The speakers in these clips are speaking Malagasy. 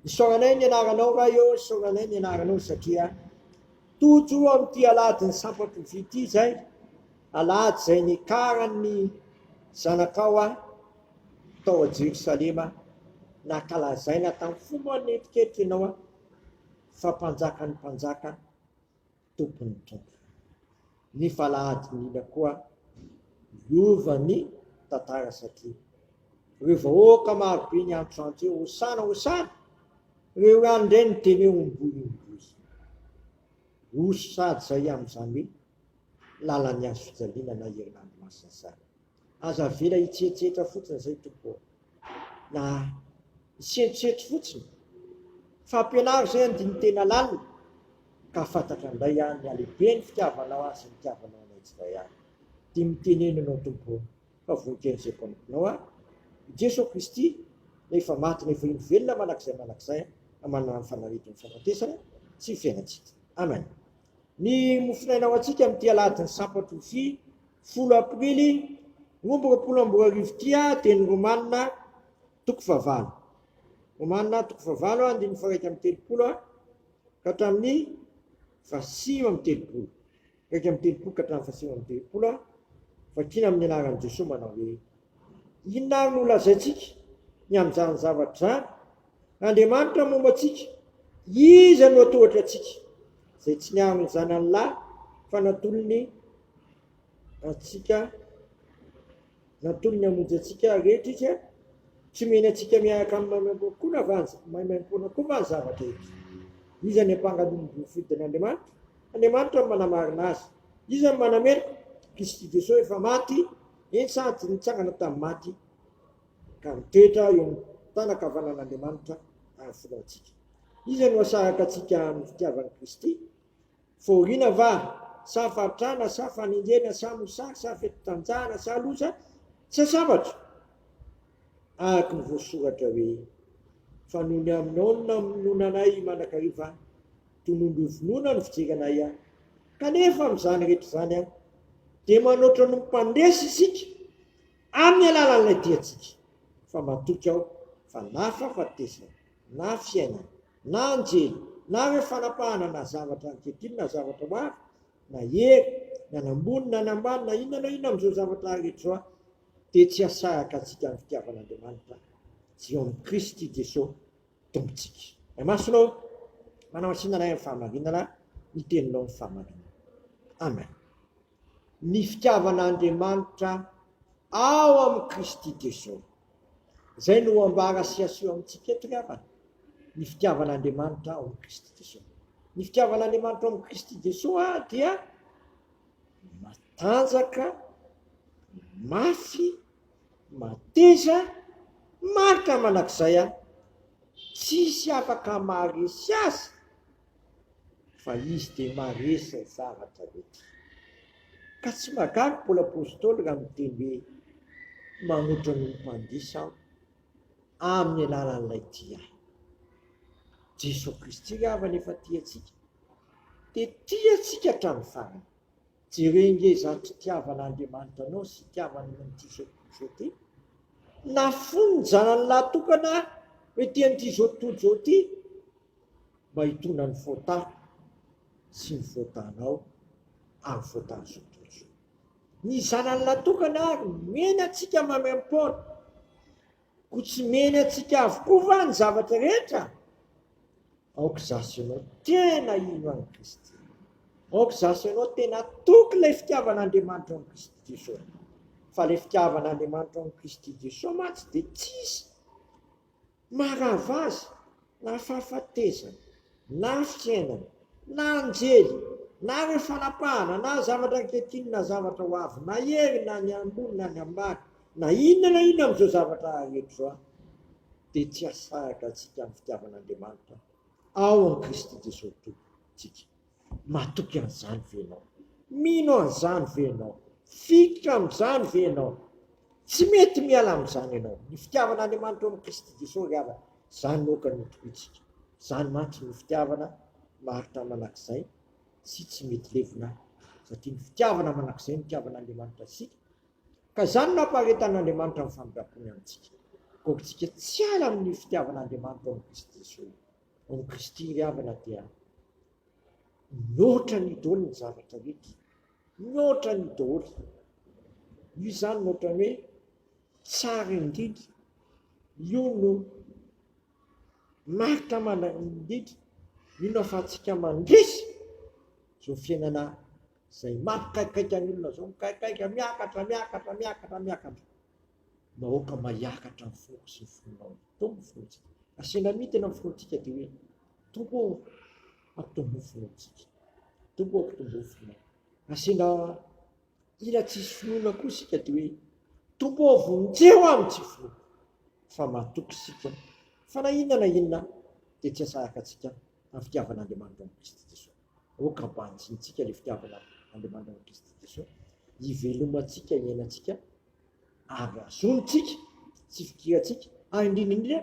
Isaoranay ny anaranao Ray ô, isaoranay ny anaranao satria tojo amin'ity alahadin'ny sampam-pivy ity izay alahady izay nikaran'ny zanakao ahy tao a Jerosalema nakalazaina tamin'ny fo moa ny netiketry ianao ahy fa mpanjakan'ny mpanjaka tompon'ny Tompo. Ny Falahadin'ila koa miova ny tantara satria ireo vahoaka marobe niantrano teo hosana hosana, ireo ihany indray no teny hoe omboy omboy. Osa sady izay amin'izany hoe lalan'ny hazofijaliana na herinandro masina izany. Aza avela hitsehetsehetra fotsiny zay tompoko ô! Na hisentrosetro fotsiny! Fampianaro zay andinin-tena lalina ka fantatra ndray any ny halehiben'ny fitiavanao ahy sy nitiavanao anay tsirairay ahy. Dia miteneno anao tompoko ô! Fa voninkezo zay mpanomponao ahy i Jeso Kristy na efa maty na efa indro velona mandrakizay mandrakizay na manana ny fanaretin'ny fahafatesana sy ny fiainantsika. Amen. Ny mofonaina ho antsika amin'ity alahadin'ny sampan-trofia. folo aprily roa amby roapolo amby roa arivo ity dia ny Romanina toko fahavalo. Romanina toko fahavalo andininy faharaika amby telopolo ka hatramin'ny fahasivy amby telopolo. Iraika amby telopolo ka hatramin'ny fahasivy amby telopolo vakina amin'ny anaran'i Jesoa manao hoe inona ary no lazaintsika ny amin'izany zavatra izany? Andriamanitra momba antsika, Iza no hatohatra antsika? Izay tsy niaro ny Zanany lahy fa natolony antsika, natolony hamonjy antsika rehetra izy, tsy mihena antsika miaraka amin'ny maimaimpoana koa na vanja, maimaimpoana koa va ny zava-drehetra? Iza ny ampanga ny olom-boa fidin'Andriamanitra? Andriamanitra no manamarina azy. Iza no manameloka? Kristy Jesoa efa maty, eny sady nitsangana tamin'ny maty. ka mitoetra eo amin'ny tànan-kavanan'Andriamanitra ary foloaintsika. Iza no asaraka antsika amin'ny fitiavan'i Kristy? Fahoriana va, sa fahantrana, sa fanenjehana, sa mosary, sa fetin-tanjahana, sa loza, sa sabatra? Araka ny voasoratra hoe, Fa noho ny Amnona minoana anay mandrakariva, tonondro ho vonoina no fijery anay. Kanefa amin'izany rehetra izany, dia manoatra noho ny mpandresy isika, Amin'ny alalan'ilay diantsika fa matoky aho fa na fahafatesana, na fiainana, na anjely, na hoe fanapahana na zavatra ankehitriny na zavatra ho avy, na hery, ny any ambony na any ambany na inona na inona amin'izao zavatra rehetra izao aho, dia tsy hahasaraka antsika amin'ny fitiavan'Andriamanitra tsy eo amin'i Kristy Jesoa Tompontsika. Ny masonao manamasinana ahy amin'ny fahamarinana, ny teninao ny fahamarinana. Amen. ny fitiavana Andriamanitra ao amin'i Kristy Jesosy. Izay no ambara sy aseho amintsika eto ry havana, ny fitiavana Andriamanitra ao amin'i Kristy Jesosy. Ny fitiavana Andriamanitra ao amin'i Kristy Jesosy ah, dia matanjaka, mafy, mateza, marika manak'izay ah, tsisy afaka maharesy azy fa izy dia maresy zavatra rehetra. Ka tsy magaga Paoly Apostoly raha miteny hoe manotra noho ny mpandiso aho amin'ny alalan'ilay tia ahy. Jesoa Kristy ry havana efa tia antsika, dia tia antsika hatramin'ny farany. Jereo nge izany fitiavan'Andriamanitra anao sy fitiavany anao amin'ity izao tontolo izao ity. Nafono ny zanany lahy tokana hoe tia an'ity izao tontolo izao ity, Mba hitondra ny fôta sy ny fôtanao ary fôtan'izao tontolo izao. Ny Zanany natokana ary nomeny antsika maimaim-poana. Koa tsy meny antsika avokoa va ny zavatra rehetra? Aoka izaho sy ianao tena hino an'i Kristy. Aoka izaho sy ianao tena toky ilay fitiavan'Andriamanitra ao amin'i Kristy Jesoa. Fa ilay fitiavan'Andriamanitra ao amin'i Kristy Jesoa mantsy dia tsisy Maharava azy na fahafatesana, na fiainana, na anjely, na hoe fanapahana, na zavatra ankehitriny, na zavatra ho avy, na hery, na ny ambony, na ny ambany, na inona na inona amin'izao zavatra rehetra izao, dia tsy hahasaraka antsika amin'ny fitiavan'Andriamanitra ao amin'i Kristy Jesosy Tompontsika. Matoky an'izany ve ianao? Mino an'izany ve ianao? Fikitra amin'izany ve ianao? Tsy mety miala amin'izany ianao. Ny fitiavan'Andriamanitra ao amin'i Kristy Jesosy ry havana, izany no aoka ny hotohitsika. Izany mantsy no fitiavana maharitra manak'izay sy tsy mety levona, satria ny fitiavana manak'izay no itiavan'Andriamanitra isika, ka izany no ampaharetan'Andriamanitra ny famindram-pony amintsika. Koa aoka isika tsy hiala amin'ny fitiavan'Andriamanitra ao amin'i Kristy Jesosy. Amin'i Kristy ry havana dia mihoatra ny dôly ny zavatra rehetra, mihoatra ny dôly. Io izany no ohatran'ny hoe tsara indrindra, io no marika manarina indrindra, io no ahafahantsika mandresy izao fiainana izay mampikaikaika ny olona izao, mikaikaika, miakatra, miakatra, miakatra, miakatra. Nahoaka maiakatra ny foko sy ny fonao e! Tompo ny finoantsika. Asiana mitina ny finoantsika dia hoe, Tompo ô, ampitombo ny finoantsika. Tompo ô, ampitombo ny finoana. Asiana ila tsy hisy finoana koa isika dia hoe, Tompo ô, vonjeo aho ny tsy finoako. Fa matoky isika fa na inona na inona dia tsy asaraka antsika amin'ny fitiavan'Andriamanitra amin'i Kristy Jesoa. Aoka mba hanjintsika ilay fitiavana Andriamanitr'i Kristy Jesosy, hivelomantsika, hiainantsika ary hazontsika sy fikirantsika, ary indrindra indrindra,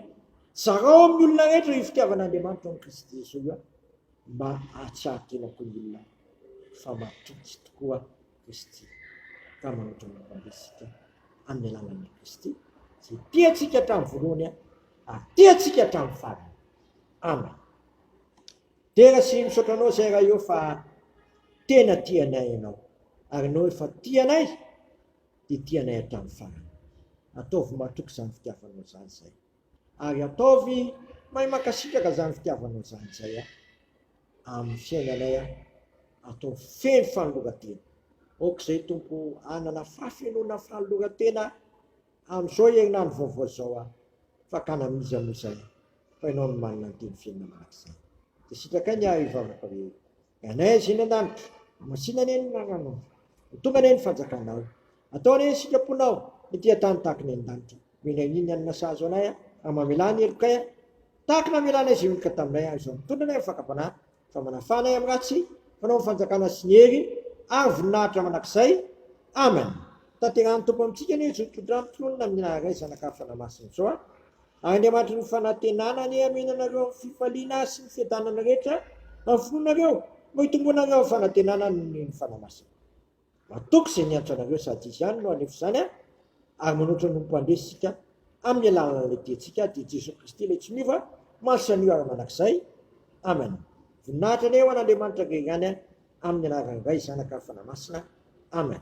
zarao amin'ny olona rehetra io fitiavan'Andriamanitra amin'i Kristy Jesosy io, mba hahatsiaro tena koa ny olona fa matoky tokoa Kristy ka manotra ny olom-bitsika amin'ny alalan'i Kristy, izay tiantsika hatramin'ny voalohany ary tiantsika hatramin'ny farany. Amen. Dera sy misaotra anao zay Raio fa tena tia anay ianao ary anao efa tia anay dia tia anay hatramin'ny farany. Ataovy matoky izany fitiavanao izany zay ary ataovy mahay mankasitraka izany fitiavanao izany zay a! amin'ny fiainanay a! ataovy feno fanoloran-tena aoka izay Tompo o! hanana fahafenoana fanoloran-tena Amin'izao herinandro vaovao izao aho fakana amin'iza moa izay fa ianao no manana ny teny fiainana mandrakizay. Dia sitrakay ny ahy hivavaka hoe, Enay Azia any an-danitra, hamasino anie ny anarannao. Ho tonga anie ny fanjakanao. Atao anie ny sitraponao ety an-tany tahaka ny any an-danitra. Omena anie ny hanina sahazo anay aho, ary mamelà ny helokay aho tahaka ny namelanay izay olon-ka taminay aho izao mitondra anay amin'ny fakam-panahy Fa manafana ahy amin'ny ratsy, fanao ny fanjakana sy ny hery, ary voninahitra mandrakizay. Amen. Tanterahan'ny Tompo amintsika anie izao toetr'andro tononina amin'ny naharay Zanaka hafa namasina izao. Ary Andriamanitry ny fanantenana anie hameno anareo amin'ny fifaliana sy ny fiadanana rehetra amin'ny finoanareo, mba hitomboanareo amin'ny fanantenana noho ny hery fanahy masina. Matoky izay niantra anareo sady izy ihany no haneho izany an! Ary manoatra ny ho mpandresy isika amin'ny alalan'ilay diantsika dia Jesoa Kristy ilay tsy miova omaly sy anio ary mandrakizay. Amen. Voninahitra anie ho an'Andriamanitra Ray ihany an! Amin'ny anaran'ny Ray, Zanaka ary Fanahy Masina. Amen.